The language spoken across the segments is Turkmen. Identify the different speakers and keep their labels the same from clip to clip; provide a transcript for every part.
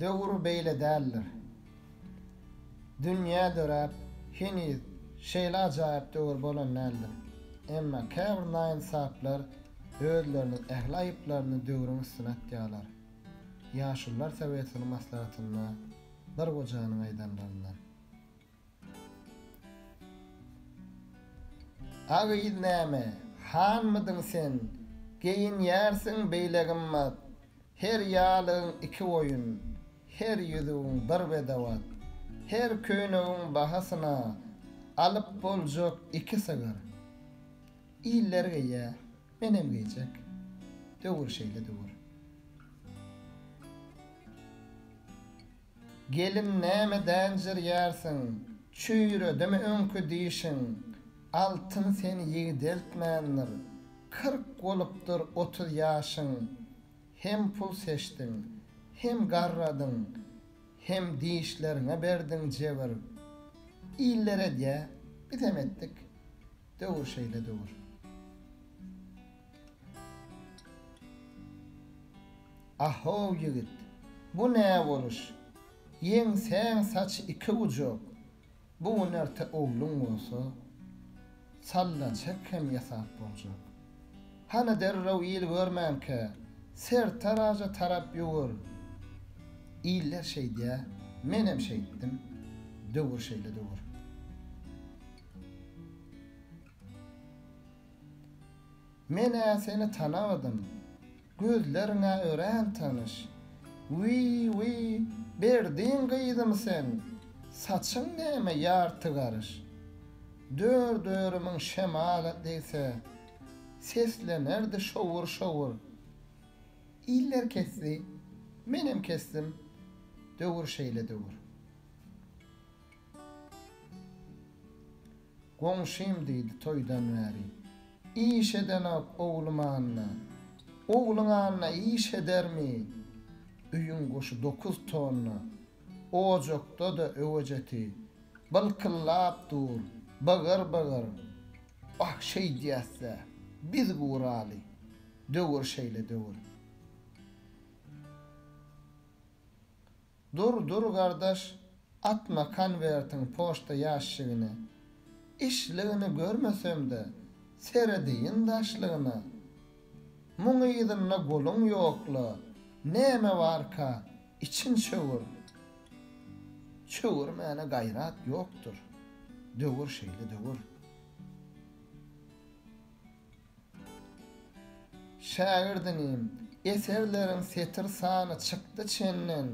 Speaker 1: Döwür beýle däldir. Dünýä döräp, heniz şeýle ajaýyp döwür bolan däldir. Emma käbir naýynsaplar özleriniň ähli aýyplaryny döwrüň üstüne atýarlar. Ýaşulular sowetiniň maslahatynda bir gojanyň aýdanlaryndan. A gyz näme, hanmydyň sen, geýinýärsiň beýle gymmat, her ýalygyň iki boýun, her ýüzügiň bir bedewat, her köýnegiň bahasyna alyp boljak iki sygyr. Iller geýýä, menem geýjek. Döwür şeýle döwür. Gelin näme dänjirýärsiň, çüýredimi öňki dişiň, Altyn seni ýigdeltmändir, kyrk bolupdyr otuz ýaşyň, Hem pul seçdiň, hem garradyň, hem dişleriňe berdiň jebir. Iller edýä, bizem etdik, döwür şeýle döwür. Ah-how ýigit, bu nä boluş? Ýeňsäň saçy iki gujak, bu gün erte ogluň bolsa, sallaçek hem ýasap boljak. Hany derrew il görmänkä, sertaraja tarap ýüwür. Iller şeýdýä, menem şeýtdim. Döwür şeýle döwür. Men-ä seni tanamadym. Gözleriň-ä örän tanyş. Wiý-wiý, Berdiň gyzymy sen? Saçyň näme ýarty garyş? Dör-dörümiň şemala degse, seslenerdi şowur-şowur. Iller kesdi, menem kesdim, döwür şeýle döwür. Goňşym diýdi toýdan bäri. Iş edenok oglum Anna. Ogluň Anna iş edermi? Öýüň goşy dokuz tonna. Ojakda-da öwejeti. Bylkyllap dur. Bygyr-bygyr. Wah şeýdýäs-dä. Biz guraly. Döwür şeýle döwür. Dur dur gardaş atma konwertiň poşta ýaşşigine. Işligini görmesemde serediýin daşlygyna. Muň yzynda goluň ýokla näme barka içiň çöwür. Çöwürmäne gaýrat ýokdur döwür şeýle döwür. Şägirdinim, eserleriň setir sany çykdy çenden,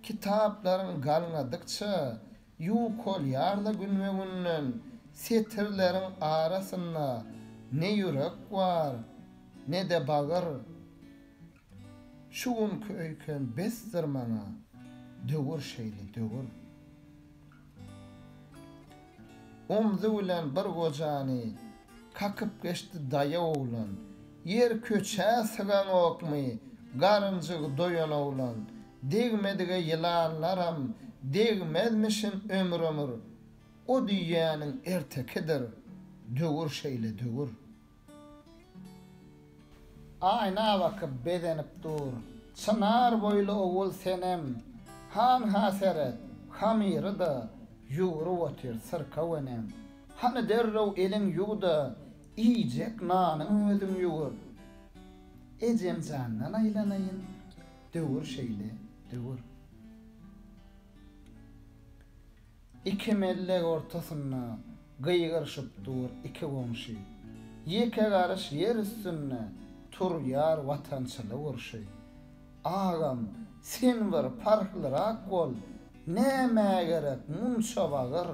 Speaker 1: kitaplaryň galňadykça, ýuwkolýar-la günbe-günden, setirleriň arasynda ne ýürek bar, ne-de bagyr. Şu günki öýken besdir maňa döwür şeýle döwür Omzy bilen bir gojany kakyp geçdi daýaw oglan Ýer köçä sygaňokmy garynjygy doýan oglan Degmedige ýylanlaram degmezmişin ömür ömür O diýýäniň ertekidir döwür şeýle döwür. Aýna bakyp bezenip dur. Çynar boýly ogul senem, Han-ha seret, hamyry-da ýugrup otyr syrkaw enem. Hany derrew eliň ýuw-da, iýjek nanyňy özüň ýuwur. Ejemjandan aýlanaýyn, döwür şeýle, döwür. Iki mellek ortasynda gygyryşyp dur iki goňşy, Ýeke garyş ýer üstünde turýar watançylyk urşy. Agam, sen bir parhlyrak bol, nämä gerek munça bagyr,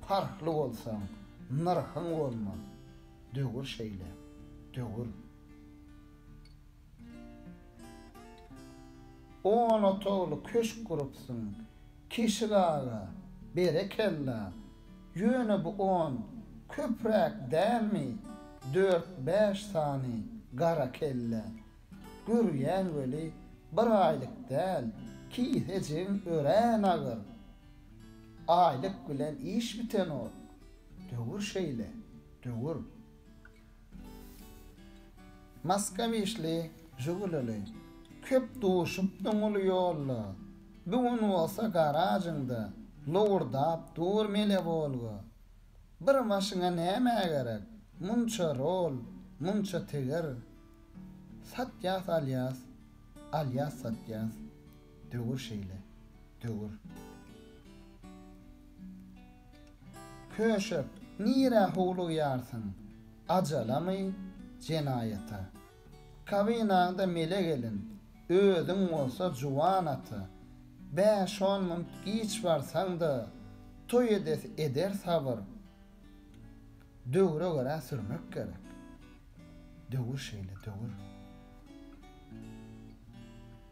Speaker 1: Parhly bolsaň, nyrhyň bolmaz, döwür şeýle, döwür. On otagly köşk gurupsyň Keşik aga, berekella! Ýöne bu on köpräk dälmi, dört-bäş sany gara kelle. Görýän weli bir aýlyk däl, kisejigiň örän agyr. Aýlyk bilen iş bitenok. Döwür şeýle, döwür. Maska bişli, žugulili, Köp duşupdyň uly ýolda. Bu gün bolsa garažyňda Lowurdap dur mele Wolga. Bir başyňa nämä gerek Munça rol, munça tigir? Satýas alýas, alýas satýas. Döwür şeýle, döwür. Köşek, nirä howlugýarsyň? Ajalamy, jenaýata? Kabinaňda mele gelin, özüň bolsa juwan ata. Bäş-on munt giç barsaň-da, toý edesi eder sabyr. Döwre görä sürmek gerek. Döwür şeýle, döwür.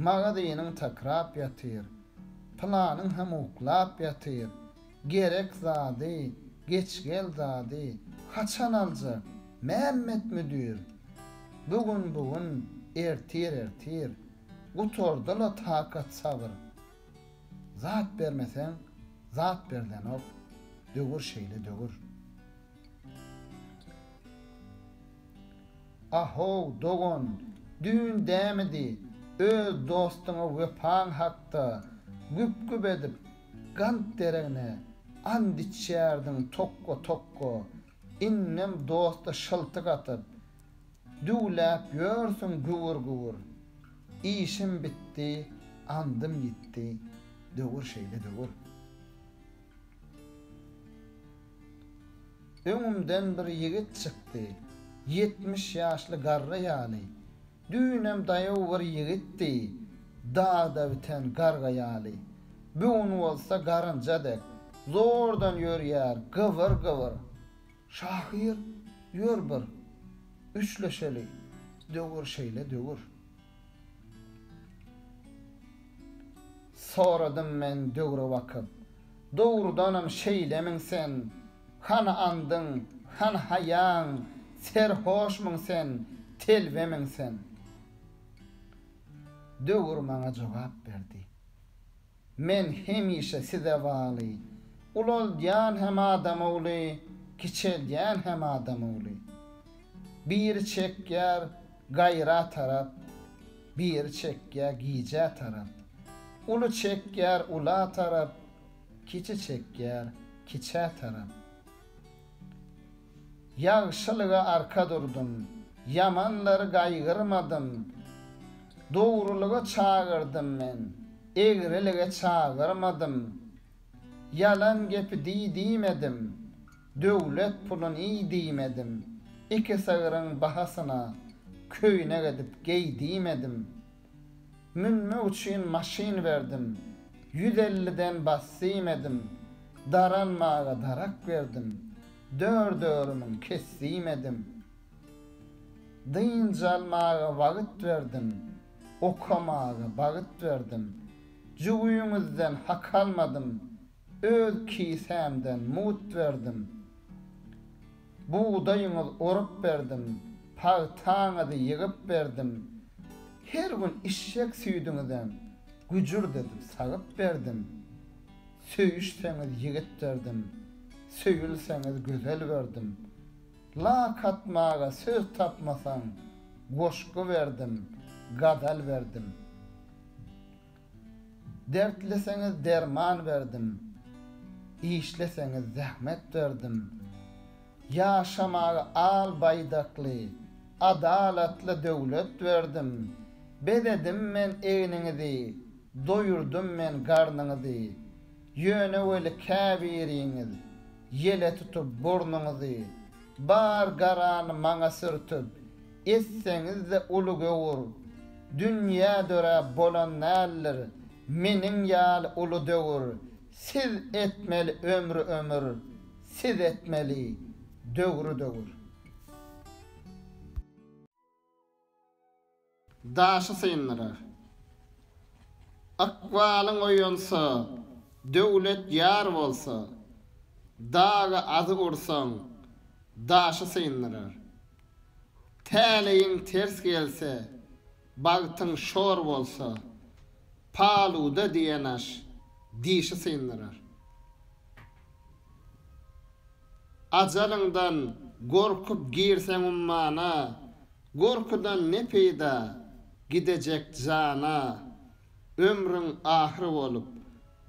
Speaker 1: Magazynyň takrap ýatyr. Planyň hem uklap ýatyr. Gerek zady, geç gel zady haçan aljak, Mämmet müdir? Bu gün bu gün, ertir ertir, gutardy-la takat-sabyr. Zat bermeseň, zat berdenok, döwür şeýle döwür. A-how, dogan, düýn dämidi, öz dostuňa wepaň hakda güp-güp edip, gant deregine and içýärdiň tokga-tokga, indem dosta şyltyk atyp, düwläp ýörsüň güwür-güwür. Işim bitdi, andym ýitdi, döwür şeýle döwür. Öňümden bir ýigit çykdy. Ýetmiş ýaşly garry ýaly. Düýnem daýaw bir ýigitdi. Dagda biten garga ýaly. Bu gün bolsa garynja dek. Zordan ýörýär, gybyr-gybyr. Şahyr, ýör bir, üçleşeli. Döwür şeýle döwür. Soradym men döwre bakyp. Dogrudanam şeýlemiň sen? Hany andyň, hany haýaň, Serhoşmyň sen, telbemiň sen? Döwür maňa jogap berdi. Men hemişe size baly, Ulaldýan hem adam ogly, Kiçeldýän hem adam ogly. Biri çekýär gaýra tarap. Biri çekýär gijä tarap. Uly çekýär ula tarap, Kiçi çekýär kiçä tarap. Ýagşylyga arka durdum, Ýamanlary gaýgyrmadym. Dogrulyga çagyrdym men, Egrilige çagyrmadym. Ýalan gepi diý diýmedim. Döwlet puluny diýmedim, iki sygryň bahasyna köýnek edip geý diýmedim. Münmek üçin maşyn berdim, ýüz elliden bas diýmedim, daranmaga darak berdim, dört örümüň kes diýmedim. Dynç almaga wagt berdim, okamaga bagt berdim, jübüňizden hak almadym, Öz kisämden mut berdim. Bugdaýyňyz orup berdim, pagtaňyzy ýygyp berdim. Her gün işşek süýdüňizem güjürt edip sagyp berdim. Söýüşseňiz ýigit berdim, söýülseňiz gözel berdim. Lak atmaga söz tapmasaň, goşgy berdim, gazal berdim. Dertliseňiz derman berdim, işleseňiz zähmet berdim. Ýaşamaga al baýdakly, adalatly döwlet berdim. Bezedim men egniňizi, doýurdym men garnyňyzy. Ýöne weli käbiriňiz Ýele tutup burnuňyzy, bar garany maňa sürtüp, etseňiz-de uly göwür. Dünýä döräp bolan däldir, meniň ýaly uly döwür. Siz etmeli ömri ömür, siz etmeli döwri döwür. Daşy syndyrar. Ykbalyň oýansa, döwlet ýar bolsa, dagy azy ursaň, daşy syndyrar. Täleýiň ters gelse, bagtyň şor bolsa, paluda diýen aş dişi syndyrar. Ajalyňdan gorkup girseň ummana, Gorkudan ne peýda, gidejek jana, Ömrüň ahyry bolup,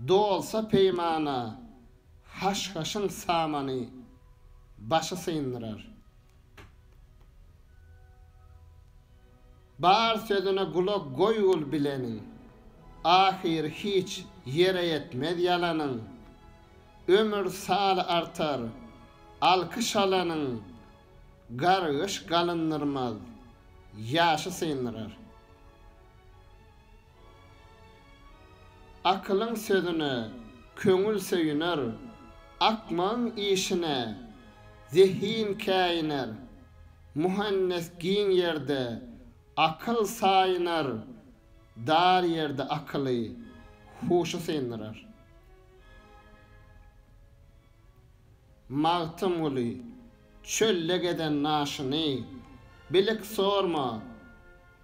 Speaker 1: dolsa peýmana, Haşhaşyň samany başy syndyrar. Bar sözüne gulak goýgul bileniň, Ahyry hiç ýere ýetmez ýalanyň. Ömür saly artar, alkyş alanyň, Gargyş galyndyrmaz, ýaşy syndyrar. Akylyň sözüne köňül söýüner, akmagyň işine zehin käýiner. Muhannes giň ýerde akyl saýynar, dar ýerde akyly, huşy syndyrar. Magtymguly, Çölde gezen naşyny, Bilik sorma,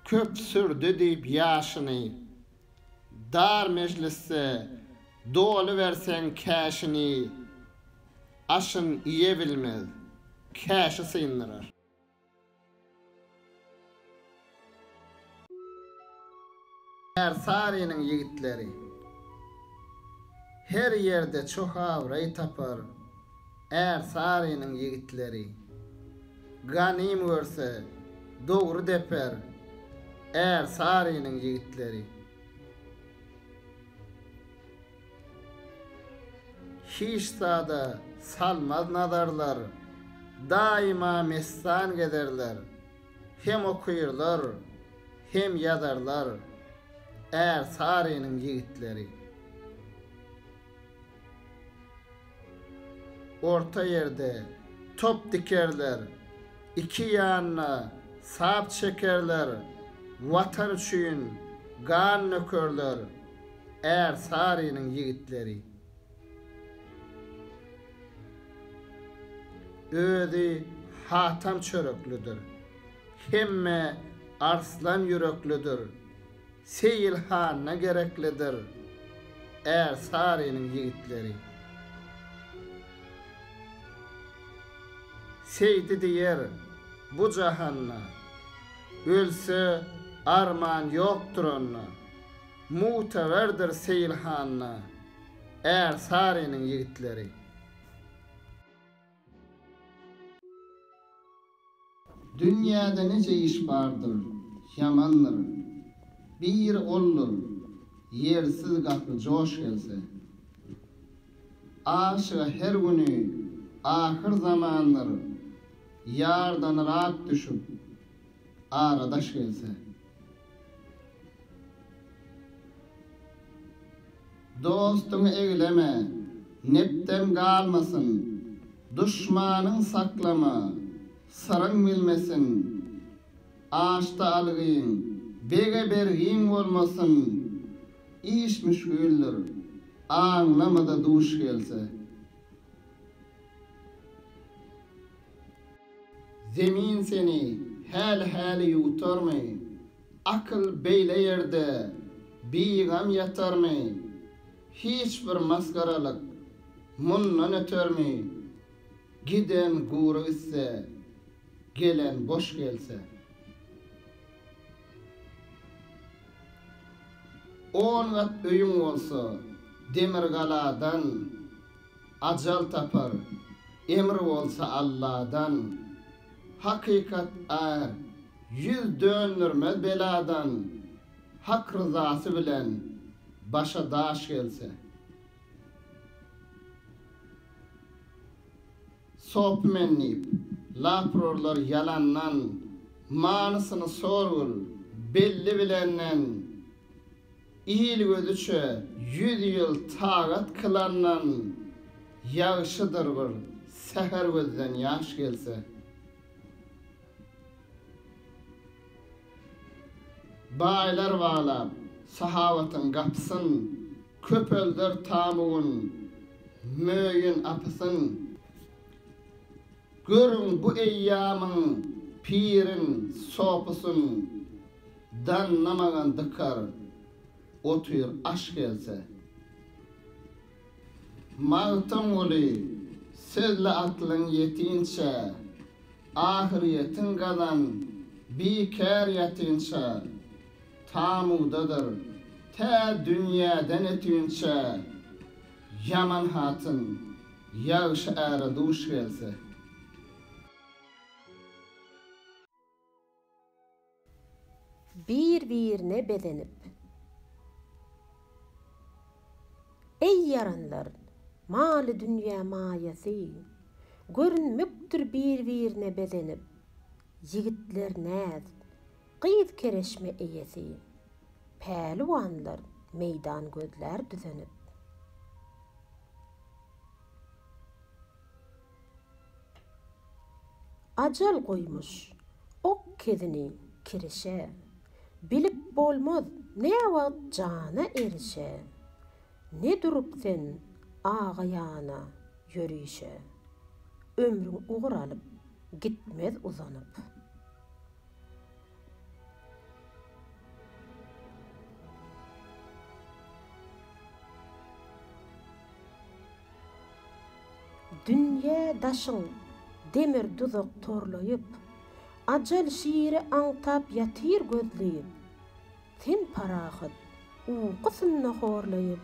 Speaker 1: köp sürdi diýip ýaşyny. Dar mejlisde doly berseň käşini, Aşyn iýebilmez, käşi syndyrar. Ärsarynyň ýigitleri Her ýerde çoh abraý tapar Ärsarynyň ýigitleri Ganym görse, dogry deper Ärsarynyň ýigitleri. Hiç zada salmaz nazarlar, Daýyma mestan gezerler. Hem okyrlar, hem ýazarlar, Ärsarynyň ýigitleri. Orta ýerde top dikerler, iki ýanyna sap çekerler, Watan üçin gan dökerler Ärsarynyň ýigitleri. Özi hatam çöreklidir, hemme arslan ýüreklidir, Seýil hanyna gereklidir är Sarynyň ýigitleri. Seýdi diýer, bu jahanda. Ölse, arman ýokdur onda. Mugteberdir Seýil hanyna är Sarynyň ýigitleri. Dünýäde nice iş bardyr, ýamandyr. Biri oldur, ýersiz gapy joş gelse. Aşyga her güni ahyr zamandyr, ýardan yrak düşüp, aradaş gelse. Dostuňy egleme, nepden galmasyn, Duşmanyň saklama, syryň bilmesin. Aşda algyň, bege bergiň bolmasyn, Iş müşgildir, aňlama-da duş gelse. Zemin seni häli-häli ýuwtarmy? Akyl beýle ýerde bigam ýatarmy? Hiç bir masgaralyk mundan ötermi? Giden gury gitse, gelen boş gelse. On gat öýüň bolsa, demirgaladan. Ajal tapar, emr bolsa Alladan. Hakykat ar, ýüz döndermez beladan. Hak ryzasy bilen başa daş gelse. Sop men diýip, lap urarlar ýalandan. Manysyny sorgul, belli bilenden. Il gözüçe ýüz ýyl tagat kylandan ýagşydyr bir säher gözden ýaş gelse. Baýlar baglap sahawatyň gapysyn, köpelder tamuwyn möýün apysyn. Görüň bu eýýamyň pirin, sopusyn daňnamagan dykar otyr aş gelse. Magtymguly sözli atlyň ýetinçä, ahyrýetin gazan bikär ýatynça, tamudadyr tä dünýäden ötünçä. Ýaman hatyn, ýagşy äre duş gelse. Bir-birine bezenip. Eý ýaranlar, maly-dünýä maýasy. Görünmekdir bir-birine bezenip. Ýigitler näz, gyz kereşme eýesi. Päliwanlar meýdan gözlär düzenip. Ajal goýmuş ok kezini kirişe. Bilip bolmaz näwagt jana erişe. Ne durup sen aga ýana ýörişe. Ömrüň ugur alyp, gitmez uzanyp. Dünýe daşyň demir duzak torlaýyp. Ajal şiri aňtap ýatyr gözleýip. Sen parahat, uky synda horlaýyp,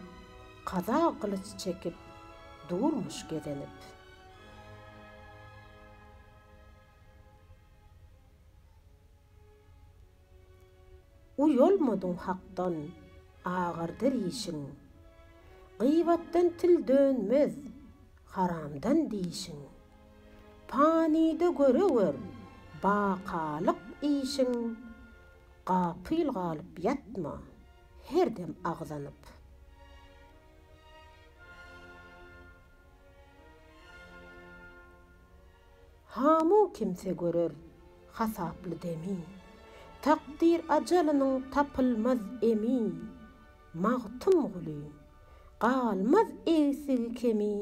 Speaker 1: kaza gylyç çekip, durmuş gezenip. Uýalmadyň hakdan, agyrdy rişiň. Gyýbatdan til dönmez, haramdan dişiň. Panyda göre gör, bakalyk işiň. Gapyl galyp ýatma, her dem agzanyp. Hamu kimse görer hasaply demi. Takdyr ajalynyň tapylmaz emi. Magtymguly, Galmaz egsigi-kemi,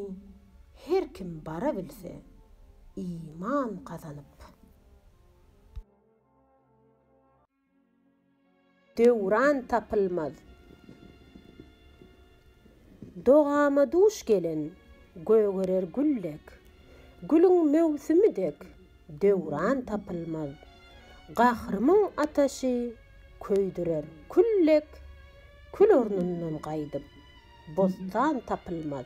Speaker 1: her kim bara bilse, iman gazanyp. Döwran tapylmaz. Dogama duş gelen, gögerer gül dek. Gülüň möwsümi dek, döwran tapylmaz. Gahrymyň ataşy, köýdürer kül dek. Kül ornundan gaýdyp, bossan tapylmaz.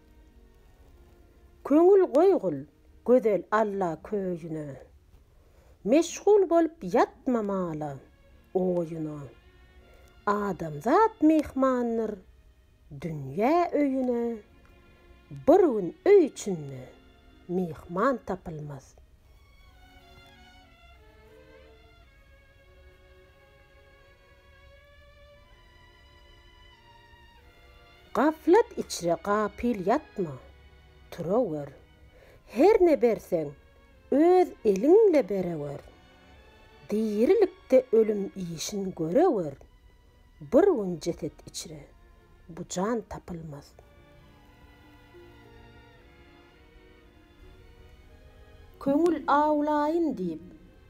Speaker 1: Köňül goýgul gözel Alla köýüne. Meşgul bolup ýatma mala, oýuna. Adamzat myhmandyr dünýä öýüne. Bir gün öý içinde myhman tapylmaz. Gaflat içre gapyl ýatma, turawör. Her ne berseň, öz eliňle berewör. Dirilikde ölüm işin görewör. Bir gün jeset içre bu jan tapylmaz. Köňül awlaýyn diýip,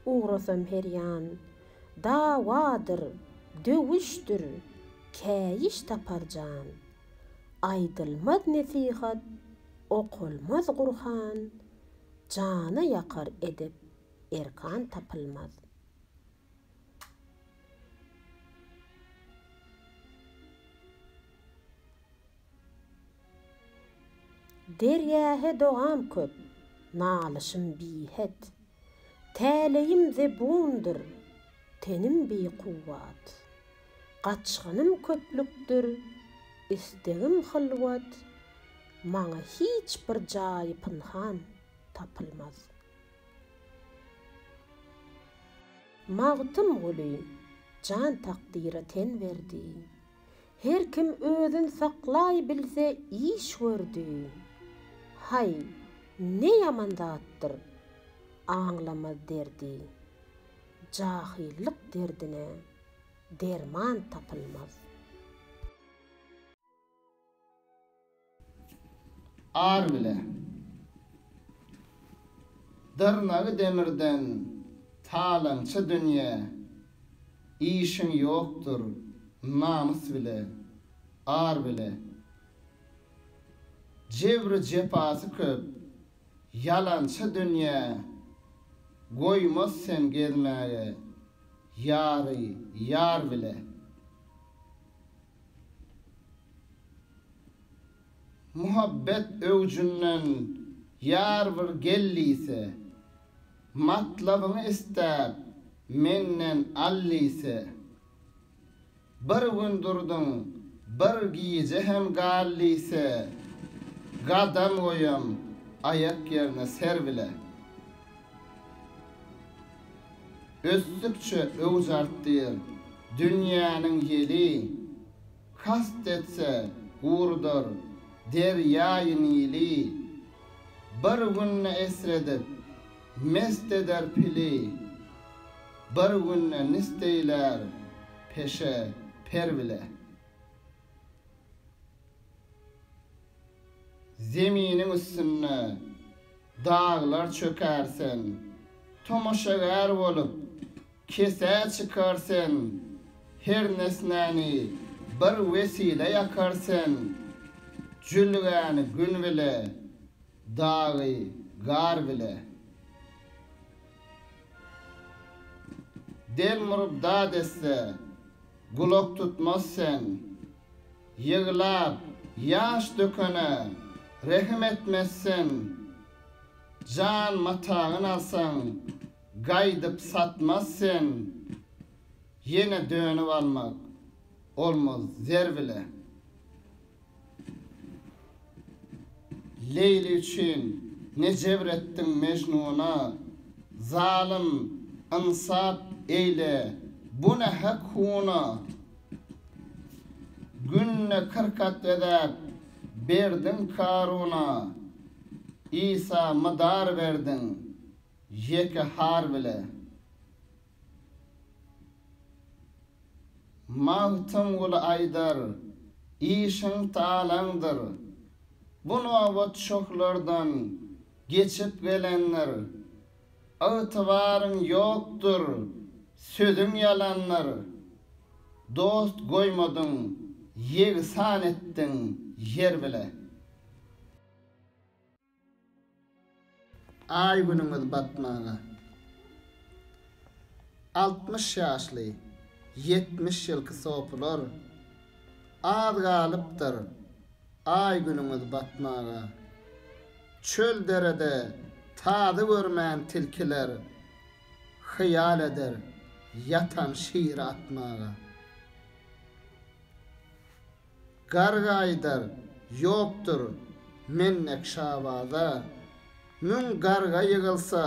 Speaker 1: ugrasam her ýan. Dawadyr, döwüşdir, käýiş tapar jan. Aýdylmaz nesihat, okalmaz Gurhan, Jana ýakar edep, erkan tapylmaz. Derýa-he dogam köp, nalyşym bihet. Täleýim zebundyr, tenim bikuwwat. Gaçgynym köplükdir, istegim hylwat. Maňa hiç bir jaýy pynhan tapylmaz. Magtymguly jan takdyra ten berdi. Her kim özün saklaý bilse iş gördi. Haý, ne ýaman zatdyr, aňlamaz derdi. Jahyllyk derdine derman tapylmaz. Ar bile. Dyrnagy demirden talaňça dünýä Işiň ýokdur namys bile, ar bile. Jebri jepasy köp ýalança dünýä Goýmaz sen gezmäge ýary ýar bile. Muhabbet öwjünden ýar bir gel diýse, Matlabyňy isläp, menden al diýse. Bir gün durduň, bir gije hem gal diýse, Gadam goýam aýak ýerine ser bile. ösdükçe öwüş artdyr. Dünýäniň ýeli kast etse gurudar derýaýy Nili. Bir günde esredip mest eder pili, bir günde nist eýlär peşe per bile. Zeminiň üstünde daglar çöker sen, Tomaşagär bolup, kesä çykar sen, Her nesnäni bir wesile ýakar sen, Jülgäni gün bile, dagy gar bile. Del murubda desse, gulak tutmaz sen, Ýyglap ýaş dökene rehim etmezsen, Jan matagyn alsaň, gaýdyp satmaz sen, Ýene dönüp almak olmaz zer bile. Leýli üçin ne jebr etdiň Mejnuna, Zalym, ynsap eýle, bu ne hak-huna, Günde kyrk at bezäp, berdiň Karuna, Isa mydar berdiň, ýeke har bile. Magtymguly aýdar, işiň talaňdyr, Bu nobat şohlardan geçip gelendir. Ygtybaryň ýokdur, sözüň ýalandyr, Dost goýmadyň, ýegsan etdiň ýer bile. Aý-günüňiz batmaga. Altmyş ýaşly, ýetmiş ýylky sopular, Az galypdyr, Aý günüňiz batmaga. Çöl derede tazy görmän tilkiler hyýal eder ýatan şiri atmaga. Garga aýdar, Ýokdur mennek şabaza. Müň garga ýygylsa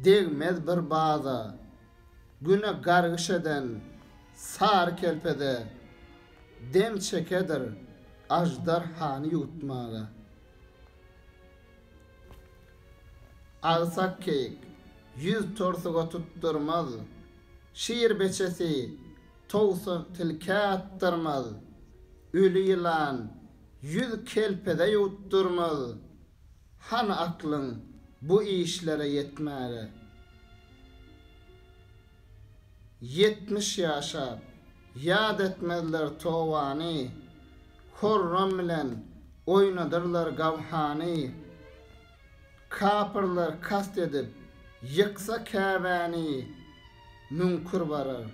Speaker 1: degmez bir baza. Güne gargyş eden sary kerpeze dem çekedir aždarhany ýuwutmaga. Agsak keýik ýüz torsuga tutdurmaz, şir beçesi towsa tilkä atdyrmaz, öli ýylan ýüz kelpeze ýuwutdyrmaz, Hany aklyň bu işlere ýetmäge? Ýetmiş ýaşap, ýat etmezler tobany, Horram bilen oýnadyrlar gawhany. Kapyrlar kast edip, ýyksa Käbäni, Müňkür barar,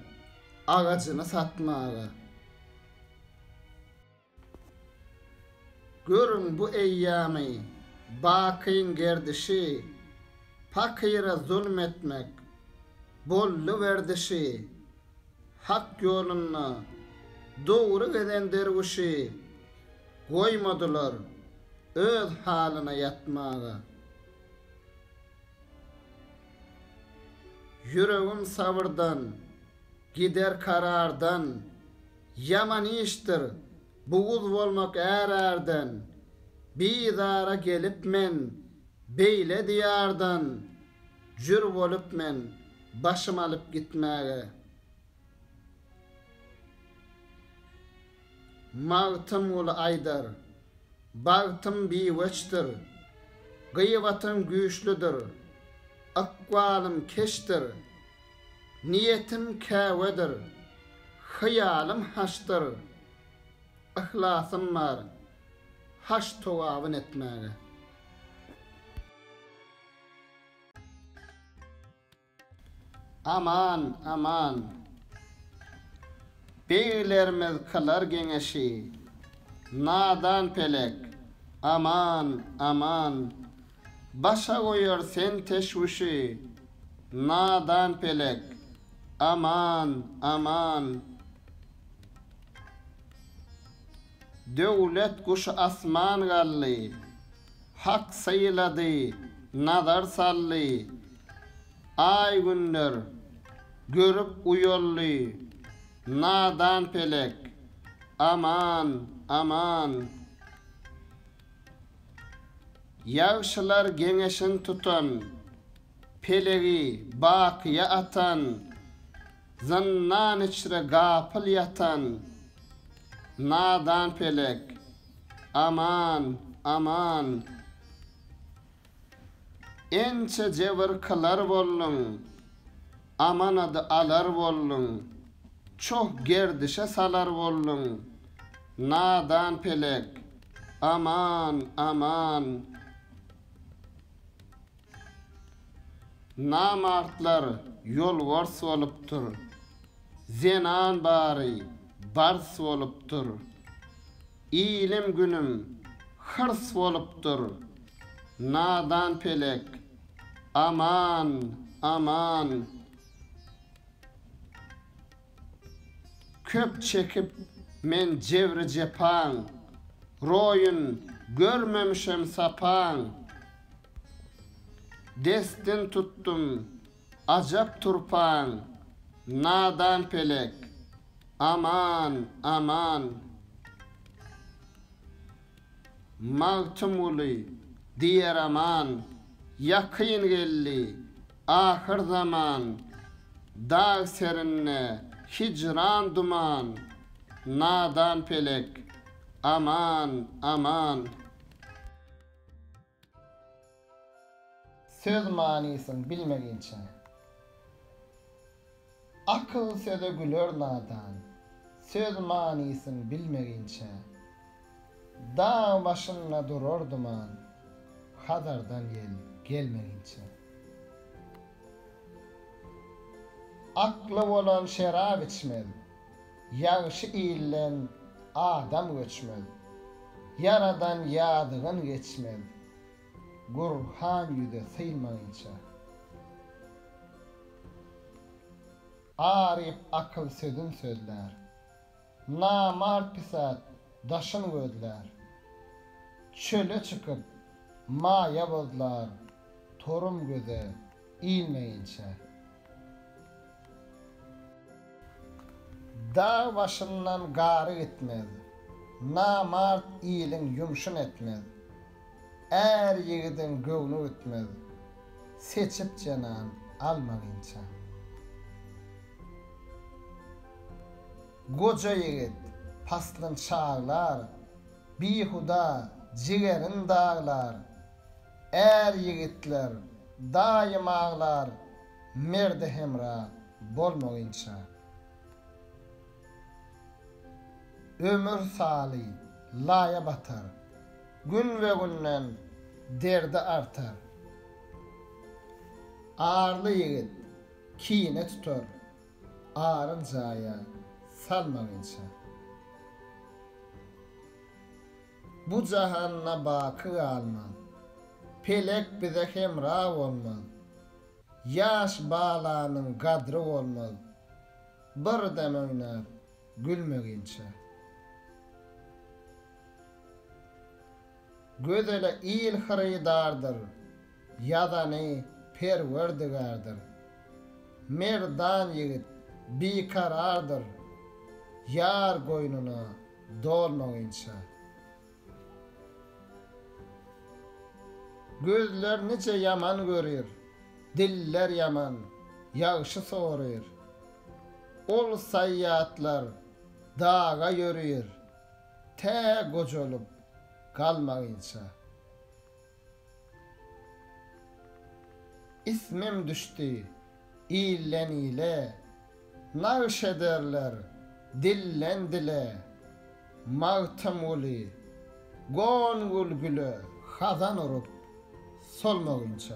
Speaker 1: agajyny satmaga. Görüň bu eýýamy, bakyň gerdişi, Pakyra zulum etmek, boldy werdişi. Hak ýolunda dogry gezen derwüşi, Goýmadylar öz halyna ýatmaga. Ýüregim sabyrdan. Gider karardan, Ýaman işdir buguz bolmak ärärden, Bizara gelip men beýle diýardan, Jür bolup men başym alyp gitmäge. Magtymguly aýdar, Bagtym biweçdir, Gybatym güýçlüdir, Ykbalym keçdir. Niýetim Käbedir, hyýalym Haçdyr, Yhlasym bar Haç towabyn etmäge. Aman, aman. Beglerimiz kylar geňeşi, Nadan pelek, aman, aman, Başa goýar sen teşwüşi, nadan pelek, aman, aman. Döwlet guşy asman galdy, Hak sylady, nazar saldy, Aý-günler görüp uýaldy, nadan pelek, aman, aman. Ýagşylar geňeşin tutan, Pelegi bakyýa atan, Zyndan içre gapyl ýatan, Nadan pelek, aman, aman. Ençe jebir kylar bolduň, amanady alar bolduň, çoh gerdişe salar bolduň, nadan pelek, aman, aman! Namartlar ýolbars bolupdyr, zenan bary bars bolupdyr. Ilim günüm hyrs bolupdyr. Nadan pelek, aman, aman. Köp çekip men jebri-jepaň. Roýun görmemişem sapaň. Destin tutdum Ajap turpaň, nadan pelek, aman, aman! Magtymguly, diýeraman, ýakyn geldi ahyr zaman, Dag serinde hijran duman, nadan pelek, aman, aman! Söz manysyn bilmeginçe. Akyl söze güler nadan. Söz manysyn bilmeginçe. Dag başynda durar duman. Hazardan ýel gelmeginçe. Akly bolan şerap içmez. Ýagşy ilden adam göçmez. Ýaradan ýadygyn geçmez. Gurhan ýüze synmaýynça. Aryp akyl sözün sözlär. Namart pisat daşyn gözlär. Çöle çykyp maýa bozlar. Torum göze ilmeýinçä. Dag başyndan gary gitmez. Namart iliň ýumşun etmez. Är ýigidiň göwni gitmez. Seçip jenan alma ginça. Goja ýigit paslyn çaglar. Bihuda jigerin daglar. Är ýigitler daýym aglar merde hemra bolmagynça. Ömür saly laýa batar. Günbe-günden derdi artar. Arly ýigit kine tutar aryn jaýa salmagynça. Bu jahanda baky galmaz. Pelek bize hemra bolmaz. Ýaş balanyň gadry bolmaz. Bir dem oýnap gülmeginçe. Gözele il hyrydardyr. Ýazany Perwerdigardyr. Merdan ýigit bikarardyr. Ýar goýnuna. Dolmagyňça. Gözler nice ýaman görir, Diller ýaman, ýagşy soryr. Ol saýýatlar daga ýörir, Tä gojalyp galmagyňça. Ismim düşdi ilden-ile. Nagş ederler dilden-dile. Magtymguly gon gül güle. Hazan urup solmagynça.